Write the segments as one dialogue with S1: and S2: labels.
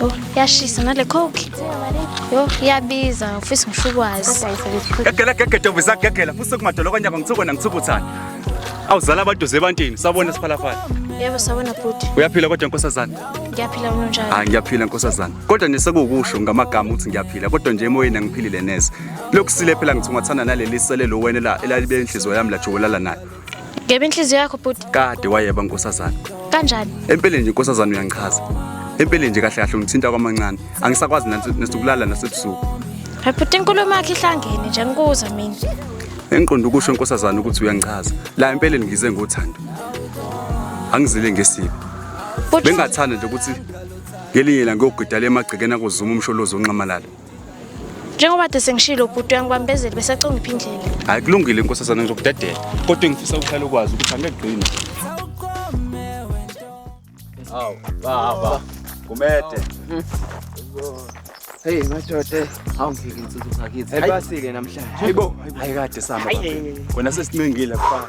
S1: Oh, yashisa nale coke. Yo, iyabiza, ufisa ngisho ukwazi. Gagela gagela
S2: ntombi zagagela futhi sekumadolo kanyaka ngithuko nangithukuthana. Awuzala abaduze ebantini sabona siphalafala. Yebo sabona
S1: bhuti. Uyaphila kodwa nkosazana?
S2: Ngiyaphila unjani?
S1: Ah ngiyaphila nkosazana.
S2: Kodwa nje sekuwukusho ngamagama ukuthi ngiyaphila kodwa nje emoyeni angiphilile neze. Lokusile phela ngithi ungathanda naleli sele lo wena la elalibe inhliziyo yami la jowolala nayo. Ngebe inhliziyo
S1: yakho bhuti. Kade wayeba nkosazana.
S2: Kanjani? Empeleni
S1: nje nkosazana
S2: uyangichaza. Empeleni nje kahle kahle ungithinta kwamancane. Angisakwazi nasukulala nasebusuku. Hayi bhuti
S1: inkulumo yakhe ihlangene nje ngikuza mina. Engiqonda ukusho
S2: nkosazana ukuthi uyangichaza. La empeleni ngize ngothando. Angizile ngesibi. Bengathanda nje ukuthi ngelinye la ngiyogida le magcekeni akuzuma umsholozi onxamalala. njengoba
S1: de sengishilo bhuti uyangibambezeli besacongipha indlela hayi kulungile inkosazana
S2: ngizokudedela kodwa engifisa ukuhlala ukwazi ukuthi angekugcina
S3: awu baba kumede
S4: Hey madoda, awungeke insizwa zakithi. Ayibasile namhlanje.
S3: Hayibo, ayikade
S2: sama. Wena sesincengile kufa.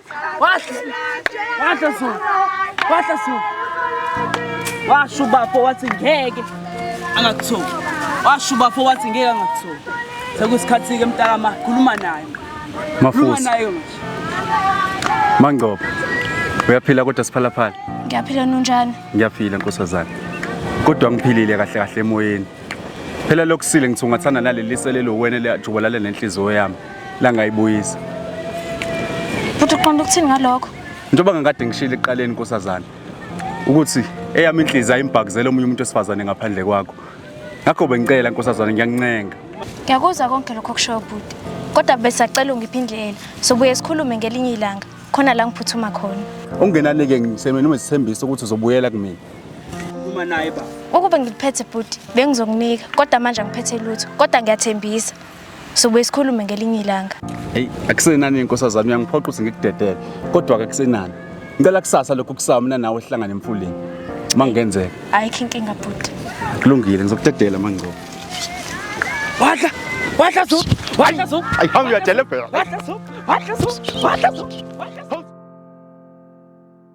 S4: Wadla so. Wadla so. Washo bafo wathi ngeke angakuthola. Washo bafo wathi ngeke angakuthola. Sekusikhathi ke mntakama khuluma naye. Khuluma Mafusi,
S2: naye
S4: manje.
S2: Mangcobo. Uyaphila kodwa siphalaphala. Ngiyaphila nunjani?
S1: Ngiyaphila nkosazana.
S2: Kodwa ngiphilile kahle kahle emoyeni. phela lokusile ngithi ungathanda naleli selelo wena eliyajubalale nenhliziyo yami langayibuyisa
S1: futhi uqonda ukuthini ngalokho njengoba ngangikade
S2: ngishile ekuqaleni nkosazana ukuthi eyami inhliziyo ayimbhakuzele omunye umuntu wesifazane ngaphandle kwakho ngakho bengicela nkosazana ngiyancenga ngiyakuzwa konke
S1: lokho kushoyo bhuti kodwa besacela ungiphe indlela sobuye sikhulume ngelinye ilanga khona la ngiphuthuma khona ungenani-ke ngisemeni
S2: uma sithembisa ukuthi uzobuyela kumina Uma naye
S4: ba. Ukube ngikuphethe bhuti
S1: bengizokunika kodwa manje angiphethe lutho kodwa ngiyathembisa. Sobe sikhulume ngelinye ilanga.
S2: Hey, akusenani inkosazana uyangiphoqa ukuthi ngikudedele
S1: kodwa ke
S2: kusenani. Ngicela kusasa lokhu kusawa mina nawe sihlangane emfuleni. Uma ngenzeka. Ayikho inkinga
S1: bhuti. Kulungile
S2: ngizokudedela mangcobo. Wadla,
S3: wadla zo, wadla zo. Ayihambe
S2: uyadelebhela. Wadla zo, wadla
S3: zo, wadla zo.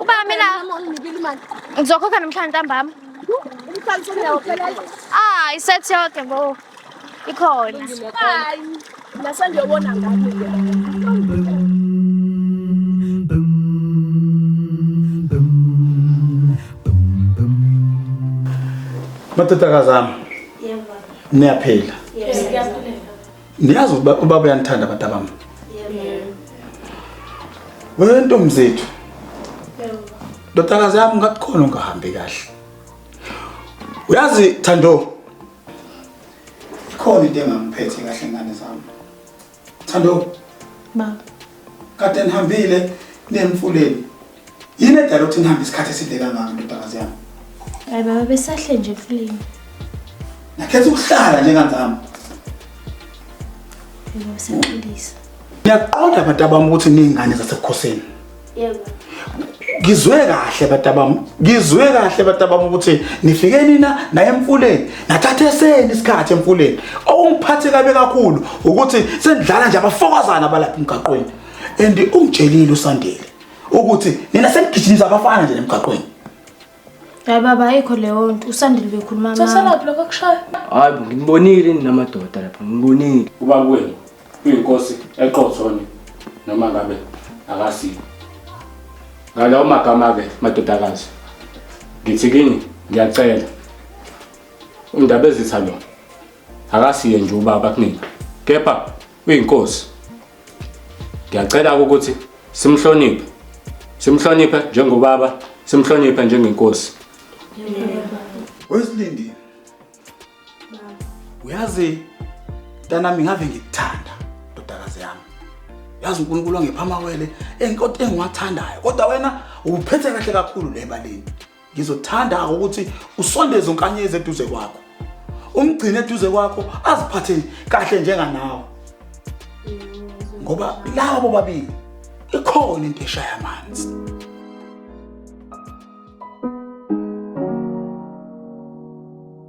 S1: Ubaba mina ngizokhokha namhlanje ntambama. Ah, isethi yonke bo. Ikhona. Nasengiyobona
S5: ngami ke. Madodakazi ami. Yebo. Niyaphila. Yes,
S6: ngiyaphila.
S5: Niyazi ukuthi ba- ubaba uyanithanda abantu abami. Wewe ntombi zethu. Ndodakazi yami ngathi khona ungahambi kahle. Uyazi Thando. Ikhona into engangiphethe kahle ngane zami. Thando, Baba.
S1: kade
S5: nihambile nemfuleni. Yini edala ukuthi nihambe isikhathi eside kangaka ndodakazi yami? Hayi baba
S1: besahle nje kulini.
S5: Nakhetha ukuhlala njenganzami.
S1: Yebo besaxolisa. Ngiyaqonda
S5: abantu abami ukuthi ningane zasebukhosini. Yebo.
S1: Ngizwe
S5: kahle abantu abami. Ngizwe kahle abantu abami ukuthi nifike nina naye emfuleni. Nathathe seni isikhathi emfuleni. Okungiphathe kabe kakhulu ukuthi sendlala nje abafokazana abalapha emgaqweni. And ungitshelile uSandile ukuthi nina senigijimisa abafana nje nemgaqweni
S1: hayi baba ayikho leyo nto usandile bekhuluma mama Sasalaphi
S6: lokho kushaya? hayi bo nginibonile
S3: ninamadoda lapha nginibonile uba kwenu uyinkosi eqothoni noma ngabe akasiko ngalawo magama-ke madodakazi ngithi kini ngiyacela undaba ezitha lo akasiye nje ubaba kunina kepha uyinkosi ngiyacela ukuthi simhloniphe simhloniphe njengobaba simhloniphe njengenkosi
S5: wesilindi uyazi ntanami ngave ngikuthanda ndodakazi yami yazi unkulunkulu angipha amawele engiwathandayo kodwa wena uphethe kahle kakhulu le baleni ngizothanda ukuthi usondeze unkanyezi eduze kwakho umgcine eduze kwakho aziphathe kahle njenganawe ngoba laba bobabili ikhona into eshaya amanzi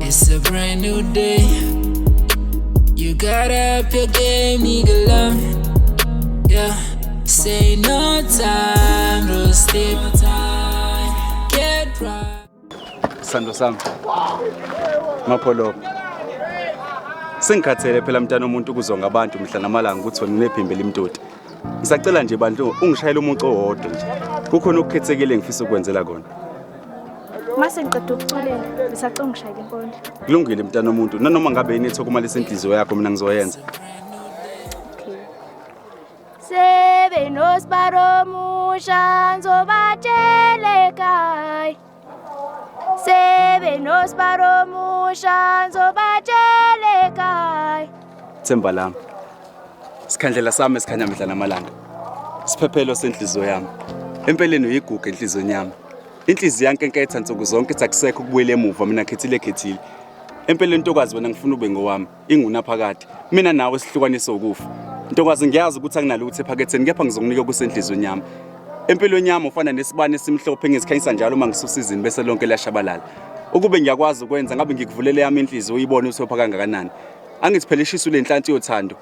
S7: It's a brand new day. You got up your game, nigga love. Yeah, say no time to sleep. Get right. Sando
S2: sami. Mapholo. Sengikhathele phela mntana omuntu kuzonga abantu mhla namalanga ukuthi wena unephimbi limtoti. Ngisacela nje bandlu ungishayele umucu owodwa nje. Kukhona okukhethekile engifisa ukwenzela kona.
S1: Mase ngiqeda ukuculela, ngisacela ungishayele inkondlo. Kulungile mntana omuntu,
S2: nanoma ngabe yini ethokumalisa inhliziyo yakho mina ngizoyenza.
S1: Sebe nosbaro musha nzobatshele kai. themba lami
S2: sikhandlela sami esikhanya mihla namalanga siphephelo senhliziyo yami empeleni uyiguga enhliziyweni yami inhliziyo yankenketha nsuku zonke ithi akusekho ukubuyela emuva mina khethile khethile empeleni ntokazi wena ngifuna ube ngowami ingunaphakade mina nawe sihlukanise ukufa ntokazi ngiyazi ukuthi akunalutho ephaketheni kepha ngizokunika okusenhlizweni yami empilweni yami ufana nesibani esimhlophe engizikhanyisa njalo uma ngisusa izini bese lonke liyashabalala ukube ngiyakwazi ukwenza ngabe ngikuvulele yami inhliziyo uyibone usopha kangakanani angithi phela ishisu lenhlanti yothando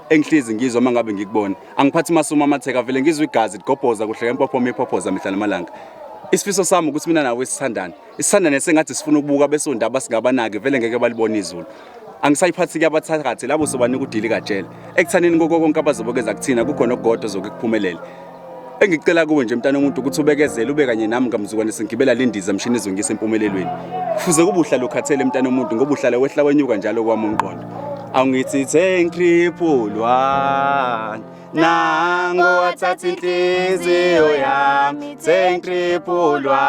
S2: engihlezi ngizwa uma ngabe ngikubona angiphathi masuma amatheka vele ngizwa igazi ligobhoza kuhleka impophoma iphophoza mihla namalanga isifiso sami ukuthi mina nawe sithandane isithanda nesengathi sifuna ukubuka besondaba singabanaki vele ngeke balibona izulu angisayiphathi-ke abathakathi labo sobanika udili kajele ekuthaneni koko konke abazobekeza kuthina kukhona okugodwa ozoke kuphumelele engicela kuwe nje mntana omuntu ukuthi ubekezele ube kanye nami kamzukwane sengigibela le ndiza mshini izongisa empumelelweni kufuze kube uhlala ukhathele mntana omuntu ngoba uhlala wehla wenyuka njalo kwami umqondo angithi thank you one nango wathatha inhliziyo yami sengitriphulwa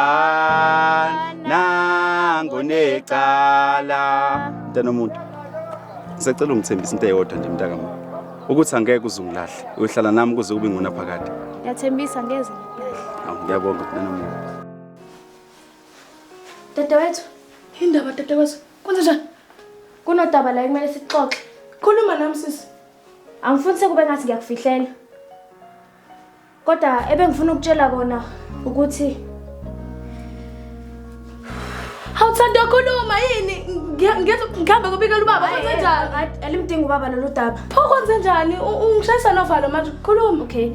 S2: nango necala mntana omuntu ngisacela ungithembisa into eyodwa nje mntakama ukuthi angeke uzungilahle uyohlala nami kuze kube ngona phakade ngiyathembisa ngeze
S1: ngilahle ngiyabonga
S2: mntana omuntu
S6: dadewethu indaba dadewethu kwenze njani kunodaba
S1: la ekumele sixoxe khuluma nami
S6: sisi Angifuni
S1: sekube ngathi ngiyakufihlela. Kodwa ebengifuna ukutshela kona ukuthi
S6: Awuthanda ukukhuluma yini? Ngihambe kubikela ubaba kwenze njani? Alimdingi ubaba lolu
S1: daba. Pho kwenze njani?
S6: Ungishayisa novalo manje. Khuluma. Okay.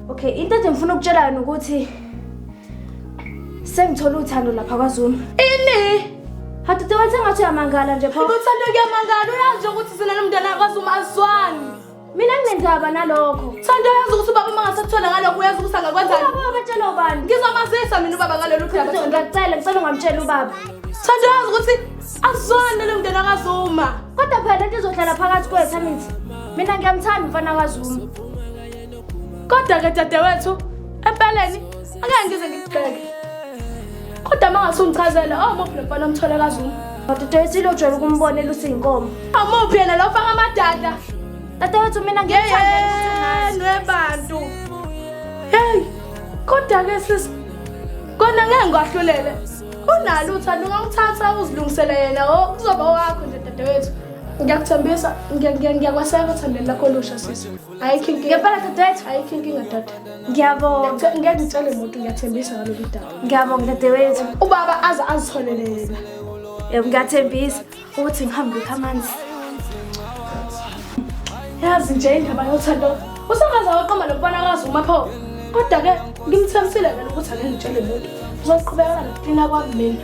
S6: Okay,
S1: into nje ngifuna ukutshela yona ukuthi Sengithola uthando lapha kwaZuma. Ini?
S6: Hadude wathi
S1: ngathi uyamangala nje pho. Uthando kuyamangala
S6: uyazi ukuthi sina nomntana kwaZuma azwani. Mina nginendaba
S1: nalokho. Thando uyazi ukuthi ubaba
S6: uma ngasekuthola ngalokho uyazi ukuthi angakwenzani. Ubaba batshela ubani?
S1: Ngizomazisa mina ubaba
S6: ngalolu phela. Ngiyacela ngicela ungamtshela
S1: ubaba. Thando uyazi ukuthi
S6: azwani nalo mntana kwaZuma. Kodwa phela lento
S1: izohlala phakathi kwethu angithi. Mina ngiyamthanda umfana kwaZuma.
S6: Kodwa-ke dadewethu, empeleni angeke ngize ngikugxeke. Kodwa uma ngase ungichazele, omuphi lo mfana omthole kaZuma? Dadewethu ilo ojwayele
S1: ukumbona elusa iy'nkomo. Omuphi yena lo
S6: faka amadada? Dadewethu
S1: mina ngiyamthandela ukuthi ungazi. Yeyenu ebantu.
S6: Hey, kodwa-ke sisi, kona ngeke ngikwahlulele. Unalo uthando ungangithatha uzilungisele yena, o kuzoba wakho nje dadewethu. Ngiyakuthembisa, ngiya- ngiya- ngiyakweseka othandweni lakho olusha sisi. ayikho inkinga ngempela dadewethu ayikho
S1: inkinga dade
S6: ngiyabonga
S1: ngeke ngitshele muntu
S6: ngiyathembisa ngalolu daba ngiyabonga dadewethu
S1: ubaba aze
S6: azitholele yena yebo
S1: ngiyathembisa ukuthi ngihambe ngikho amanzi
S6: yazi nje indaba yothando usangaze waqoma lokubona kwazi uma pho kodwa-ke ngimthembisile kena ukuthi angengitshele muntu uzoqhubekana nokuklina kwami mina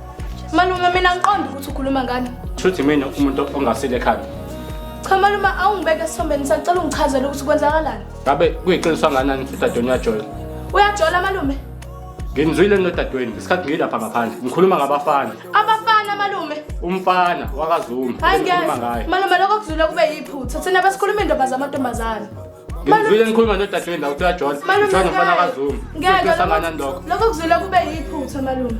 S6: Malume mina ngiqonda ukuthi ukhuluma ngani. Shuthi mina umuntu
S8: ongasile ekhanda. Cha malume
S6: awungibeke esisombeni sacela ungichazele ukuthi kwenzakalani. Ngabe kuyiqiniso
S8: kanganani ukuthi udadewenu uyajola? Uyajola malume.
S6: Ngimzwile
S8: nodadewenu ngesikhathi ngilapha ngaphandle. Ngikhuluma ngabafana. Abafana malume.
S6: Umfana
S8: wakaZuma. Hayi ngikhuluma ngaye. Malume lokho kuzwile kube
S6: yiphutha. Thina besikhuluma indaba zamantombazana. ngizwile
S8: ngikhuluma nodade wendawo kuthiwa john john umfana kazuma ngeke sangana
S6: ndoko lokho
S8: kuzwile kube
S6: yiphutha malume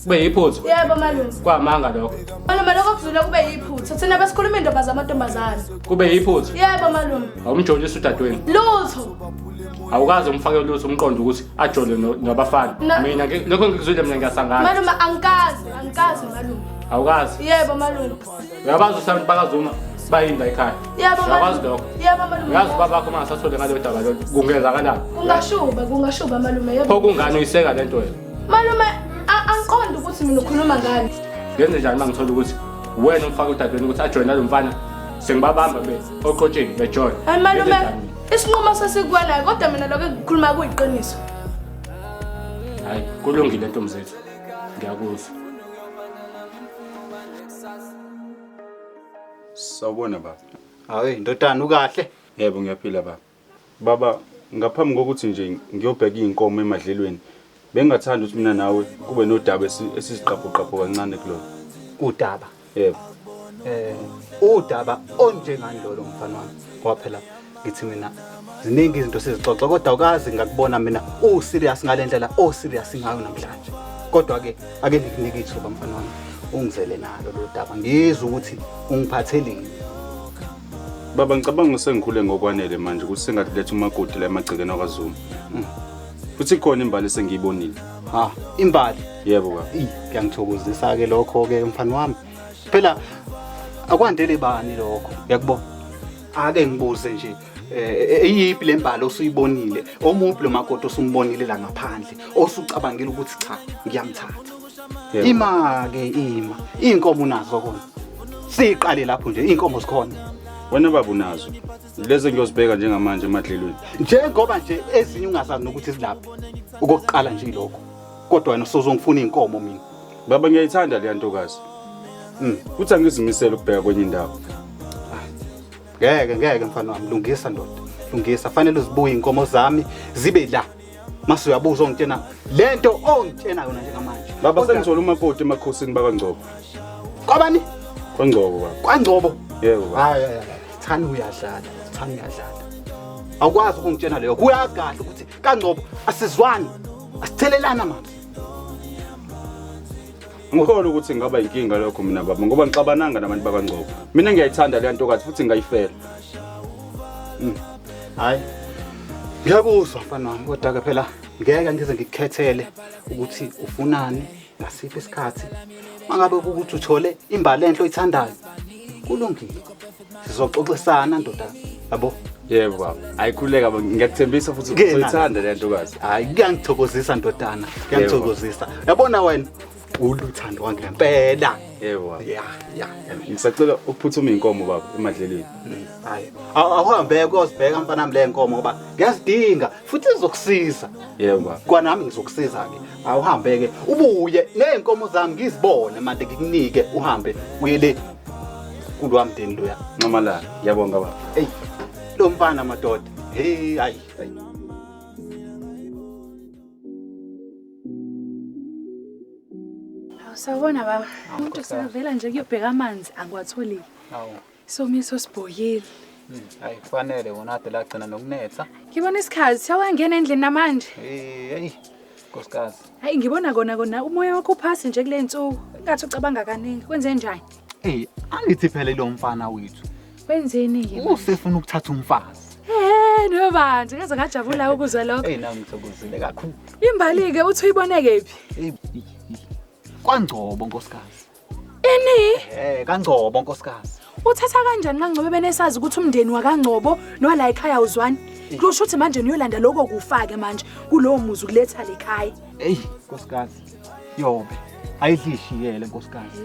S6: kube
S8: yiphutha yebo malume kwamanga
S6: lokho
S8: malume lokho kuzwile
S6: kube yiphutha thina besikhuluma indaba zamantombazane kube yiphutha
S8: yebo malume
S6: awumjolisa udadewenu
S8: lutho
S6: awukaze
S8: umfake lutho umqondo ukuthi ajole nabafana mina lokho ngikuzwile mina ngiyasangana malume angikazi
S6: angikazi
S8: malume
S6: awukazi
S8: yebo malume
S6: uyabazi usanti
S8: bakazuma bayini la ekhaya uyakwazi lokho uyazi uba
S6: bakho uma ngasathole
S8: ngaleyo daba lelo kungenzakalani kungashuba kungashuba
S6: malume pho kungani uyiseka le nto
S8: wena malume
S6: angiqondi ukuthi mina ukhuluma ngani ngenze njani uma ngithola
S8: ukuthi wena umfaka udadweni ukuthi ajoyine lo mfana sengibabamba be oqotsheni bejoyine hayi malume
S6: isinqumo sesikuwanayo kodwa mina lokho engikhuluma kuyiqiniso
S8: hayi kulungile ntomzethu ngiyakuzwa
S2: kusasa. Sawubona baba. Hayi ndodana
S5: ukahle? Yebo ngiyaphila baba.
S2: Baba ngaphambi kokuthi nje ngiyobheka izinkomo emadlelweni bengingathanda ukuthi mina nawe kube nodaba esi- esiziqaphuqaphu kancane kulona. Udaba.
S5: Yebo.
S2: Eh
S5: udaba onjengani lolo mfana wami? Ngoba phela ngithi mina ziningi izinto sizixoxa kodwa ukazi ngakubona mina u serious ngale ndlela o serious ngayo namhlanje kodwa ke ake ngikunike ithuba mfana wami ungizele nalo lo daba ngizwe ukuthi ungiphatheleni
S2: baba ngicabanga usengikhule ngokwanele manje ukuthi sengathi letha umakoti la emagcekeni akwaZuma mm. futhi khona imbali esengiyibonile ha
S5: imbali yebo baba
S2: kuyangithokozisa
S5: ke lokho ke mfana wami phela akwandele bani lokho uyakubona ake ngibuze nje eh, eyiphi le mbali osuyibonile omuphi lo makoti osumbonile la ngaphandle osucabangile ukuthi cha ngiyamthatha Yebo. ima ke ima iy'nkomo unazo kona siyiqale lapho nje iy'nkomo zikhona wena baba
S2: unazo lezi engiyozibheka njengamanje emadlelweni njengoba nje
S5: ezinye ungazazi nokuthi zilaphi okokuqala nje ilokho kodwa wena sozongifuna iy'nkomo mina Baba ngiyayithanda
S2: leya ntokazi. Mm, kuthi angizimisele ukubheka kwenye indawo. Ngeke
S5: ngeke mfana wami lungisa ndoda. Lungisa fanele uzibuye inkomo zami zibe la. Mase uyabuza ongitshena lento ongitshena yona njengamanje. Baba Kodwa- sengithola umakoti
S2: emakhosini bakangcobo. Kwabani?
S5: Kwangcobo
S2: baba. Kwangcobo. Yebo
S5: baba. Hayi hayi
S2: hayi.
S5: Thani uyadlala. Thani uyadlala. Awukwazi ukungitshena leyo. Kuyagahle ukuthi kangcobo asizwani asithelelani amanzi
S2: ngikholwa ukuthi ngaba inkinga lokho mina baba ngoba ngixabananga nabantu bakangcobo mina ngiyayithanda leya ntokazi futhi ngingayifela Mm.
S5: hayi ngiyakuzwa mfana wami kodwa-ke phela ngeke ngize ngikukhethele ukuthi ufunani ngasiphi isikhathi mangabe ukuthi uthole imbali enhle oyithandayo kulungile sizoxoxisana ndoda yabo yebo baba
S2: ayikhuleka ngiyakuthembisa futhi uzoyithanda le ntokazi hayi kuyangithokozisa
S5: ndodana kuyangithokozisa yabona wena uluthando wangempela yebo ya
S2: ya
S5: ngisacela
S2: ukuphuthuma inkomo baba emadleleni mm,
S5: hayi awuhambe kuyosibheka mfana mle nkomo ngoba ngiyazidinga futhi izokusiza yebo
S2: kwanami ngizokusiza
S5: ke awuhambe-ke ubuye ney'nkomo zami ngizibone mande ngikunike uhambe uye le kulwa mndeni loya nxamalala ngiyabonga
S2: baba eyi lo
S5: mfana madoda heyi hayi Sawubona
S9: baba. Umuntu usavela nje kuyobheka amanzi angiwatholi. Awu.
S10: Somiso
S9: sibhoyile. Hmm, hayi
S10: kufanele wona ade lagcina nokunetha. Ngibona isikhazi
S9: siyawangena endlini namanje. Eh, hey.
S10: Nkosikazi. Hayi ngibona kona
S9: kona umoya wakho uphasi nje kule nsuku. Ingathi ucabanga kaningi. Kwenze njani? Eh, angithi
S10: phela lo mfana wethu. Wenzeni yini?
S9: Usefuna ukuthatha
S10: umfazi. Eh, no
S9: bandla, ngaze ngajabula ukuzwa lokho. Hey, nami ngithokozile
S10: kakhulu. Imbali ke uthi
S9: uyiboneke phi?
S10: Kwangcobo nkosikazi. Ini?
S9: Eh kaNgcobo
S10: nkosikazi. Uthatha kanjani
S9: kaNgcobo benesazi ukuthi umndeni wakaNgcobo nowala ekhaya uzwani? Kusho ukuthi manje niyolanda lokho kufake manje kulowo muzi ukuletha lekhaya. Ey nkosikazi.
S10: Yobe ayidlishiyele nkosikazi.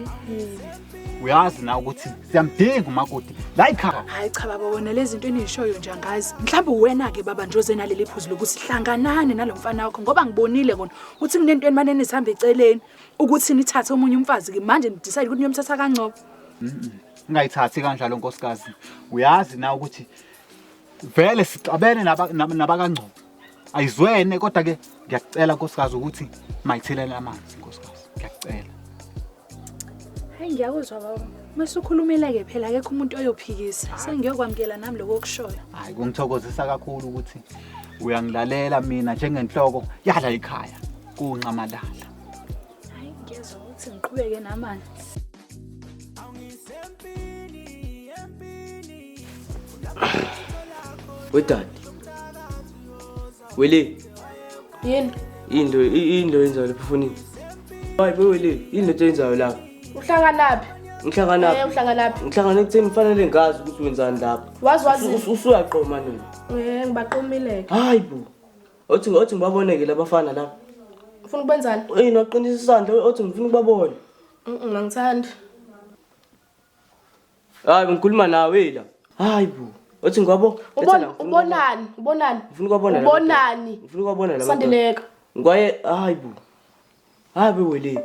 S10: Uyazi na ukuthi siyamdinga umakoti la ekhaya. Hayi cha baba wona
S9: lezinto enizishoyo nje angazi. Mhlawumbe uwena ke baba nje oze naleli phuzu lokuthi hlanganani nalomfana wakho ngoba ngibonile kona ukuthi kunento enimane nisihamba eceleni. ukuthi nithathe omunye umfazi ke manje nidecide ukuthi niyomthatha kangcobo
S10: ungayithathi kanjalo nkosikazi uyazi na ukuthi vele sixabene naba- nab- nabakangcobo ayizwene kodwa ke ngiyakucela nkosikazi ukuthi mayithelele amanzi nkosikazi ngiyakucela
S9: hayi ngiyakuzwa baba mase ukhulumile-ke phela akekho umuntu oyophikisa sengiyokwamukela nami lokho okushoyo hayi kungithokozisa
S10: kakhulu ukuthi uyangilalela mina njengenhloko yala ikhaya kunxamalala hayi ngiyezwa
S9: ukuthi ngiqhubeke namanzi
S11: wedadi wele
S6: yini into
S11: into yenzayo lapha fonini hayi bewele yini lento yenzayo lapha uhlanganaphi
S4: ngihlanganaphi Eh, uhlanganaphi
S6: ngihlangana ekutheni kufanele
S4: ngazi ukuthi wenzani lapha wazi wazi
S6: usuyaqoma nini
S4: um ngibaqomile-ke
S6: hayi bo
S4: othi othi ngibaboneke labafana la ufuna ukwenzani
S6: eyi noqinisa isandla
S4: othi ngifuna ukubabona ngangithandi hayi bengikhuluma nawe la hayi bo othi ngibabo ubonani ubonani
S6: ngifuna
S4: ukubabona ubonani ngifuna ukubabona
S6: la
S4: sandeleka ngwaye
S6: hayi
S4: bo hayi beweleni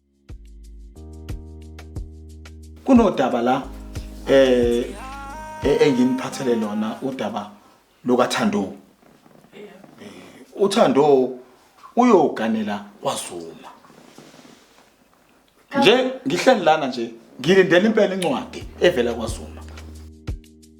S5: kunodaba la eh e-, enginiphathele lona udaba lokaThando uThando uyoganela kwaZuma nje ngihleli lana nje ngilindele impela incwadi evela kwaZuma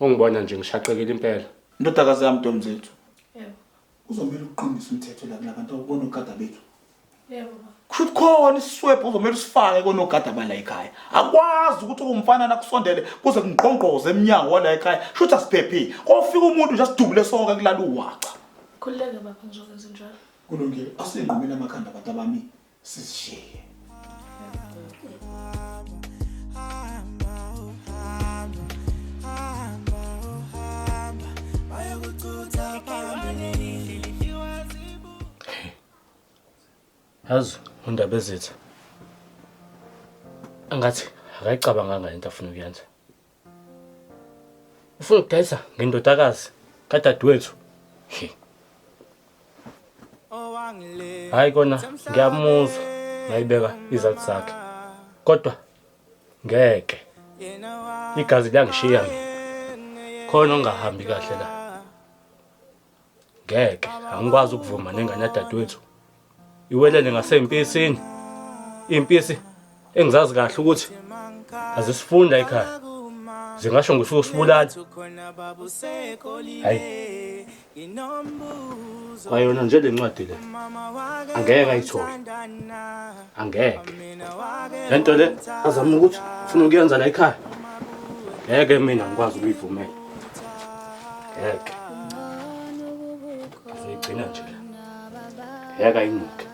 S8: Ungibona nje ngishaqekile impela. Ndodakazi yami
S5: Ntomzethu. Yebo. Uzomela uqinisa umthetho la kulabantu okubona ogada bethu. Yebo.
S6: Kushuthi khona
S5: isiswebhu uzomela usifake konogada bala ekhaya. Akwazi ukuthi umfana nakusondele kuze kungqongqoze eminyango wala ekhaya. Kushuthi asiphephile. Kofika umuntu nje asidubule sonke kulala uwaca. Khululeke baba
S6: ngizokwenza njalo. Kulungile. Asingqumela
S5: amakhanda abantu abami.
S8: sizishiye yazi undaba ezitha angathi akayicabanganga into afuna ukuyenza ufuna ukudayisa ngendodakazi kadadewethu hayi kona ngiyamuzwa nayibeka izathi zakhe kodwa ngeke igazi liyangishiya mina khona ongahambi kahle la ngeke angikwazi ukuvuma nengane yadadewethu iwelele ngaseyimpisini impisi engizazi kahle ukuthi azisifunda ekhaya zingasho ngifuna usibulala hayi kwayona nje le ncwadi le angeke ayithole angeke le nto le azama ukuthi ufuna ukuyenza la ekhaya ngeke mina ngikwazi ukuyivumela ngeke azoyigcina nje ngeke ayinuke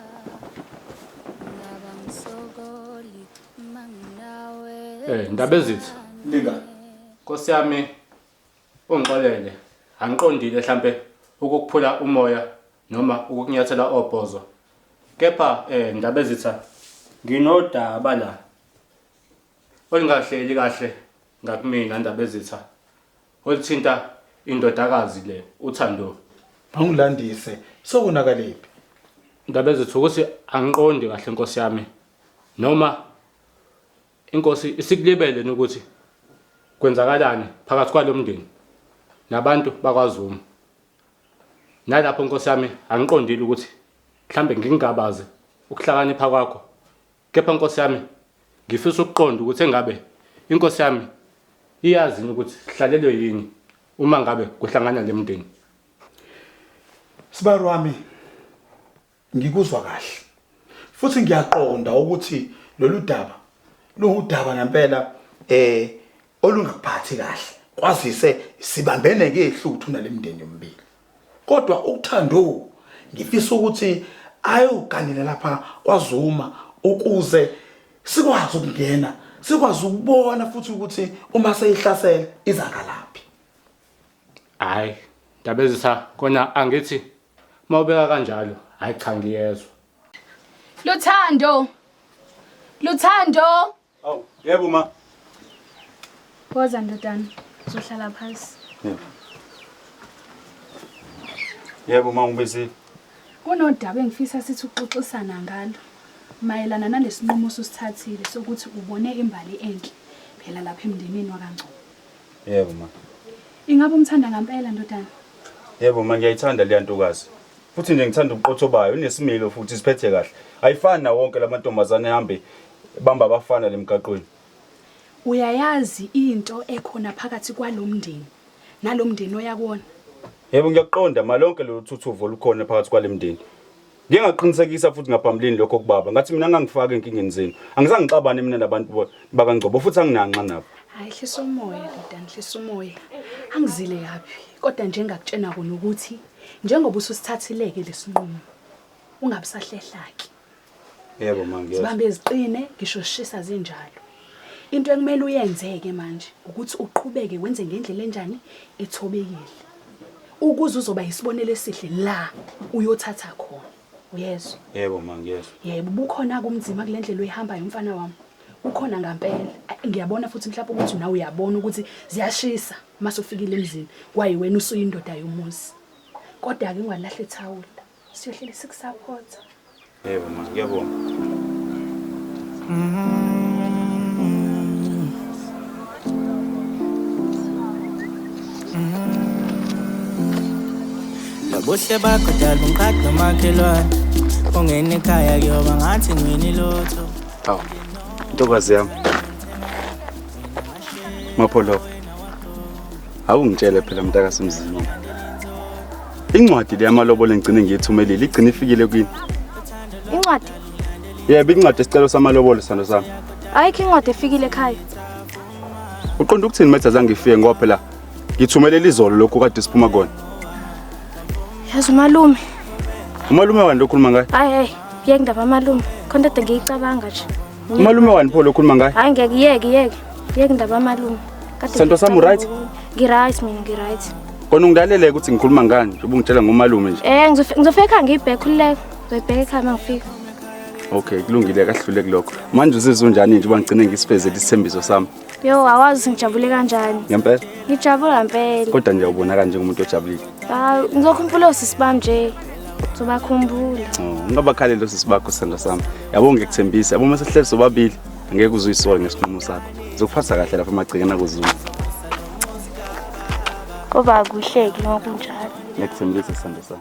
S8: Eh, ndaba ezithi Linga. Nkosi
S5: yami
S8: ungixolele angiqondile mhlambe ukukuphula umoya noma ukukunyathela obhozo. Kepha eh ndaba ezitha nginodaba la Olingahleli kahle ngakumina Ndabezitha olithinta indodakazi le uThando. Angilandise
S5: sokonakaliphi?
S8: Ndabezitha ukuthi angiqondi kahle nkosi yami noma inkosi isikulibele nokuthi kwenzakalani phakathi kwalomndeni nabantu bakwaZuma. Nalapho nkosi yami angiqondile ukuthi mhlambe ngingabaze ukuhlakanipha kwakho Kepha Nkosi yami, ngifisa ukuqonda ukuthi engabe iNkosi yami iyazi yini ukuthi sihlalelwe yini uma ngabe kuhlangana le mndeni. Sibari
S5: wami ngikuzwa kahle futhi ngiyaqonda ukuthi lolu daba luwudaba ngempela eh olungaphathi kahle kwazise sibambene ngehluthu nalemndeni yombili Kodwa uThando ngifisa ukuthi ayoganela lapha kwaZuma ukuze sikwazi ukungena sikwazi ukubona futhi ukuthi uma seyihlasela izangalaphi
S8: hayi ndabezisa kona angithi mawubeka kanjalo hayi cha ngiyezwa Luthando
S9: Luthando Awu, yebo ma.
S1: Phoza ndodana, uzohlala phansi.
S2: Yebo. Yebo ma ngibizile. Kunodaba
S9: engifisa sithi uxoxisana ngalo mayelana nalesinqumo osithathile sokuthi ubone imbali enhle phela lapha emndenini wakangcobo. Yebo ma.
S2: Ingabe umthanda
S9: ngempela ndodana? Yebo ma
S2: ngiyayithanda leya ntokazi. Futhi nje ngithanda ubuqotho bayo, unesimilo futhi siphethe kahle. Ayifani na wonke lamantombazane ehambe Ebamba abafana lemgaqweni.
S9: Uyayazi into ekhona phakathi kwalomndeni nalomndeni oya kuwona? Yebo ngiyaqonda
S2: malonke lolu thuthuvo olukhona phakathi kwalemndeni. Ngike ngaqinisekisa futhi ngaphambilini lokho kubaba ngathi mina ngangifaka enkingeni zenu. Angizange ngixabane mina nabantu bo- bakaNgcobo futhi anginanxa nabo. Hayi hlisa umoya
S9: ndodana hlisa umoya. Angizile kabi kodwa nje engakutshena kona ukuthi njengoba ususithathileke lesinqumo ungabisahlehla-ke.
S2: Yebo manje. Zibambe ziqine
S9: ngisho shisa zinjalo. Into ekumele uyenzeke manje ukuthi uqhubeke wenze ngendlela enjani ethobekile. Ukuze uzoba yisibonelo esihle la uyothatha khona. Uyezwa? Yebo ma ngiyezwa.
S2: Yebo bukhona
S9: kumzima kule ndlela oyihamba yomfana wami. Ukhona ngampela. Ngiyabona futhi mhlawumbe ukuthi nawe uyabona ukuthi ziyashisa uma sofikile emzini. Kwaye wena usuyindoda yomuzi. Kodwa-ke ungalahli ithawula. Siyohlele sikusaphotha.
S2: Yebo ma, ngiyabonga.
S12: Lobuhle bakho dala ungiqadi nomakhelwane ungena ekhaya kuyoba ngathi ngwini lotho Hawu.
S2: Ntokazi yami. Mapholo. Awungitshele phela mntaka semzini. Incwadi le yamalobolo engigcine ngiyithumelile igcine ifikile kwini? Incwadi?
S1: Yebo,
S2: incwadi esicelo samalobolo sando sami. Ayikho incwadi
S1: efikile ekhaya.
S2: Uqonda ukuthini metha zange ifike ngoba phela ngithumelele izolo lokhu kade siphuma kona.
S1: Yazi umalume. Umalume
S2: wani lokhuluma ngaye? Hayi hayi, yengindaba
S1: malume. Khona kade ngiyicabanga nje. Umalume wani pho
S2: lokhuluma ngaye? Hayi ngeke yeke yeke.
S1: Yeke ndaba yamalume. Kade Sento sami ngicabanga
S2: right? ngokunye. Ngi-right mina
S1: ngi-right. Kona ungidaleleke
S2: ukuthi ngikhuluma ngani njengoba ungitshela ngomalume nje. Eh ngizofe- ngizofika ekhaya ngiyibheke
S1: khululeka. Ngizoyibheka ekhaya uma ngifika. Okay,
S2: kulungile kahlule kulokho. Manje uzizwa unjani nje uba ngigcine ngisifezele isithembiso sami? Yo awazi
S1: ngijabule kanjani. Ngempela? Ngijabula
S2: ngempela.
S1: Kodwa nje ubona kanje umuntu
S2: ojabulile. Hayi ngizokhumbula
S1: osisi bami nje. Ngizobakhumbula. Oh, ungabakhaleli
S2: osisi bakho sanda sami. Yabo ngikuthembisa, yabo mase sihleli sobabili ngeke uzuyisole ngesinqumo sakho. Ngizokuphatha kahle lapha emagcekeni akuzulu.
S1: Koba kuhleki ngokunjalo. Ngikuthembisa sanda
S2: sami.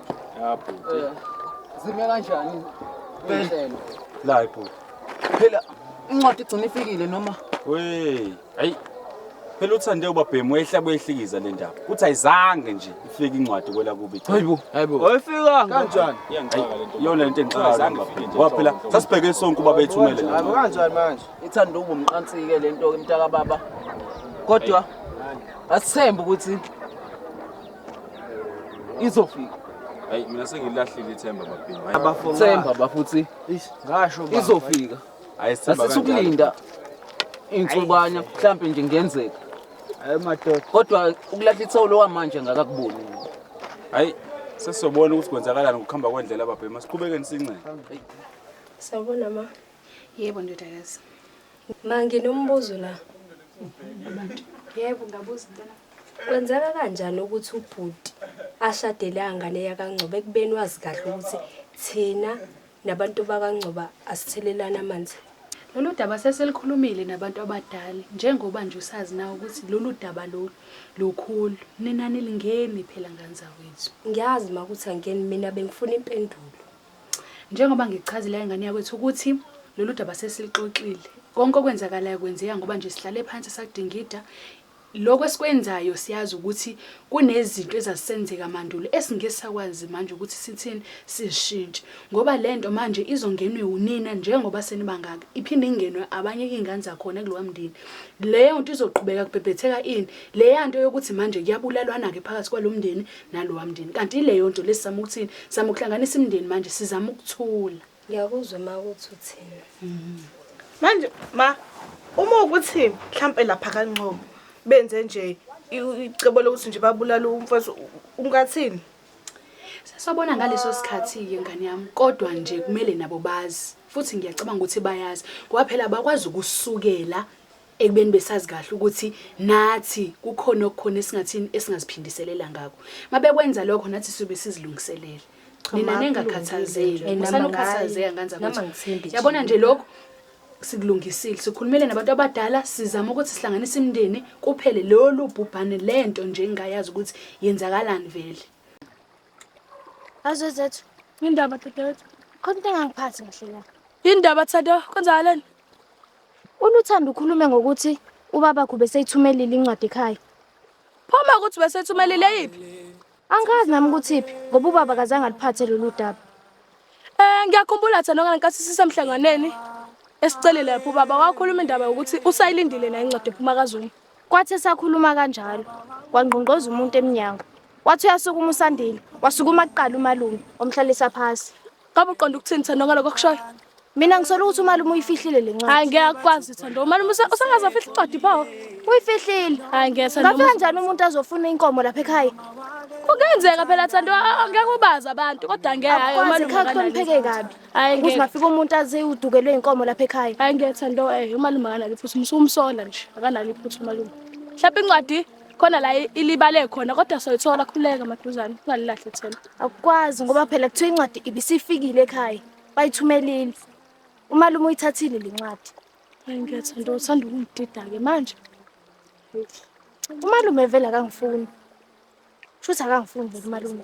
S2: Ya bhuti. Eh,
S4: zime kanjani? Impela. La
S2: bhuti. Phela
S4: incwadi igcina ifikile noma? Wey,
S2: ayi. Phela uthande ubabhemu ehla kwehlikiza le ndaba. Uthi ayizange nje ifike incwadi kwela kubi. Hayibo, hayibo.
S4: Oyifikanga kanjani? Iyangixaka
S2: lento. Yona lento engixaka ubabhemu. Ngoba phela sasibheke sonke ubaba ethumele la. Hayibo kanjani manje?
S4: Ithanda ubumqansike lento ke mntaka baba. Kodwa asithembe ukuthi izofika hayi mina
S2: sengilahlile ithemba babhini hayi abafo themba bafuthi
S4: ngasho baba. izofika hayi sithemba
S2: asisukulinda
S4: insukwana mhlampe nje ngenzeka hayi madoda kodwa ukulahla ithawulo wamanje ngakakuboni mina. hayi
S2: sesobona ukuthi kwenzakalani ngokuhamba kwendlela babhini masiqhubekeni sincele
S11: Sawubona ma. Yebo ndodakazi.
S9: Ma
S11: nginombuzo la. Abantu.
S9: Yebo ngabuza mntana. Kwenzeka
S11: kanjani ukuthi ubhuti ashadele angane yakangcoba ekubeni wazi kahle ukuthi thina nabantu bakangcoba asithelelana amanzi? Lolu
S9: daba seselikhulumile nabantu abadala njengoba nje usazi na ukuthi lolu daba lolu lukhulu. Nina nilingeni phela ngane zakwethu. Ngiyazi ma ukuthi
S11: angeni mina bengifuna impendulo. Njengoba
S9: ngikuchazela ingane yakwethu ukuthi lolu daba sesilixoxile. Konke okwenzakalayo kwenzeka ngoba nje sihlale phansi sakudingida. Lokho esikwenzayo siyazi ukuthi kunezinto ezazisenzeka mandulo esingeke sakwazi manje ukuthi sithini sishintshe ngoba le nto manje izongenwe unina njengoba senibangaka iphinde ingenwe abanye iy'ngane zakhona kulowa mndeni leyo nto izoqhubeka kubhebhetheka ini leya nto yokuthi manje kuyabulalwana-ke phakathi kwalo mndeni nalowa mndeni kanti ileyo nto lesi sama ukuthini sama ukuhlanganisa imndeni manje sizama ukuthula ngiyakuzwa ma
S11: ukuthi uthini mhm.
S6: manje ma uma ukuthi mhlampe lapha kanqobo benze nje icebo lokuthi nje babulala umfazi ungathini
S9: sesabona ngaleso sikhathi-ke ngane yami kodwa nje kumele nabo bazi futhi ngiyacabanga ukuthi bayazi ngoba phela bakwazi ukusukela ekubeni besazi kahle ukuthi nathi kukhona okukhona esingathini esingaziphindiselela ngako mabekwenza lokho nathi sibe sizilungiselele nina nengakhathazeki usana ukhathazeka kanzani ukuthi yabona nje lokho sikulungisile sikhulumele nabantu abadala sizama ukuthi sihlanganise imindeni kuphele lolu bhubhane lento nje engayazi ukuthi yenzakalani vele
S6: azozethu indaba dadewethu
S1: khona into engangiphathi kahle la indaba thato
S6: kwenzakaleni
S1: ULuthando ukhulume ngokuthi ubabakho beseyithumelile incwadi ekhaya. Pho uma
S6: ukuthi besethumelile yiphi? Angazi nami
S1: ukuthi iphi ngoba ubaba kazange aliphathe lolu daba. Eh
S6: ngiyakhumbula Thando ngenkathi sisemhlanganweni esicelile lapho ubaba wakhuluma indaba yokuthi usayilindile na incwadi ephuma kaZuma. Kwathi esakhuluma
S1: kanjalo, kwangqongqoza umuntu emnyango. Wathi uyasukuma uSandile, wasukuma kuqala umalume, wamhlalisa phasi. Kabe uqonda ukuthini
S6: Thando ngaloko kushoyo? Mina ngisola ukuthi
S1: umalume uyifihlile le ncwadi. Hayi ngeke akwazi Thando.
S6: Umalume usa- usangaze afihle incwadi pho. Uyifihlile.
S1: Hayi ngeke Thando. Ngafika
S6: njani umuntu azofuna
S1: inkomo lapha ekhaya? Kungenzeka
S6: phela Thando a- a- ngeke ubazi abantu kodwa ngeke hayi Akwazi umalume khakho akanalo nipheke
S1: iphutha. kabi. Hayi Ukuthi ngeke. ngafika umuntu
S6: aze
S1: udukelwe inkomo lapha ekhaya. Hayi ngeke Thando eh
S6: umalume akanalo iphutha. Umsumsola nje akanalo iphutha umalume. Hlapha incwadi. khona la ilibale khona kodwa soyithola khuleka maduzane ungalilahle ithemba akukwazi ngoba
S1: phela kuthiwa incwadi ibisifikile ekhaya bayithumelile umalume uyithathile le ncwadi ngiyathanda
S6: uthanda ukungidida-ke manje
S1: umalume vele akangifuni shuthi akangifuni vele umalume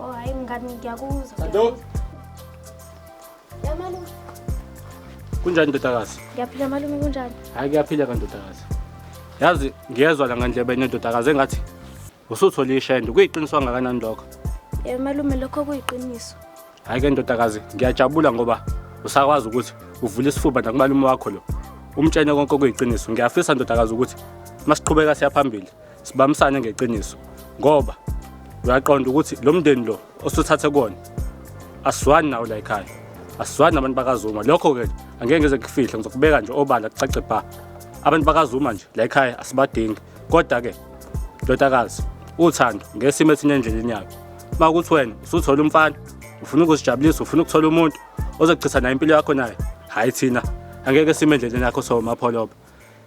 S1: Oh hayi mngani ngiyakuzwa. Kanto. Yamalu.
S8: Kunjani ndodakazi? Ngiyaphila malume
S1: kunjani? Hayi kuyaphila
S8: kandodakazi. Yazi ngiyezwa la ngandlebe enedodakazi engathi usuthole ishende kuyiqiniswa ngakanani lokho. Eh malume lokho
S1: kuyiqiniso. Hayi ke ndodakazi
S8: ngiyajabula ngoba usakwazi ukuthi uvule isifuba nakumalume wakho lo. Umtshene konke okuyiqiniso. Ngiyafisa ndodakazi ukuthi masiqhubeka siya phambili. sibamisane ngeqiniso ngoba uyaqonda ukuthi lo mndeni lo osuthathe kona asizwani nawo la ekhaya asizwani nabantu bakazuma lokho-ke angeke ngize ngifihle ngizokubeka nje obala kucace bha abantu bakazuma nje la ekhaya asibadingi kodwa-ke ndodakazi uthando ngesimo esinye endleleni yakho uma ukuthi wena usuthola umfana ufuna ukuzijabulisa ufuna ukuthola umuntu ozochitha naye impilo yakho naye hhayi thina angeke sime endleleni yakho sowumapholoba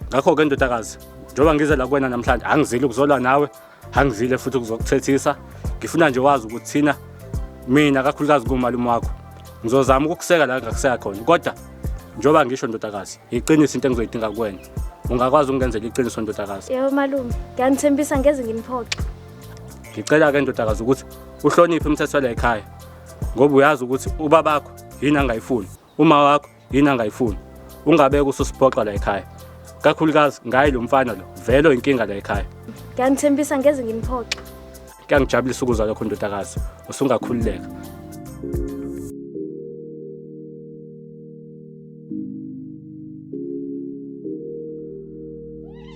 S8: ngakho-ke ndodakazi njengoba ngize la kuwena namhlanje angizile ukuzolwa nawe angizile futhi ukuzokuthethisa ngifuna nje wazi ukuthi thina mina kakhulukazi kumalume wakho ngizozama ukukuseka la ngakuseka khona kodwa njengoba ngisho ndodakazi yiqiniso into engizoyidinga kuwena ungakwazi ukungenzela iqiniso ndodakazi yebo malume
S1: ngiyanithembisa ngeze nginiphoxe ngicela-ke
S8: ndodakazi ukuthi uhloniphe umthetho la ekhaya ngoba uyazi ukuthi ubabakho yini angayifuni uma wakho yini angayifuni ungabeke ususiphoxa la ekhaya kakhulukazi ngaye lo mfana lo vele inkinga la ekhaya ngiyanithembisa ngeze
S1: ngimphoxa kuyangijabulisa
S8: ukuzwa lokho ndodakazi usungakhululeka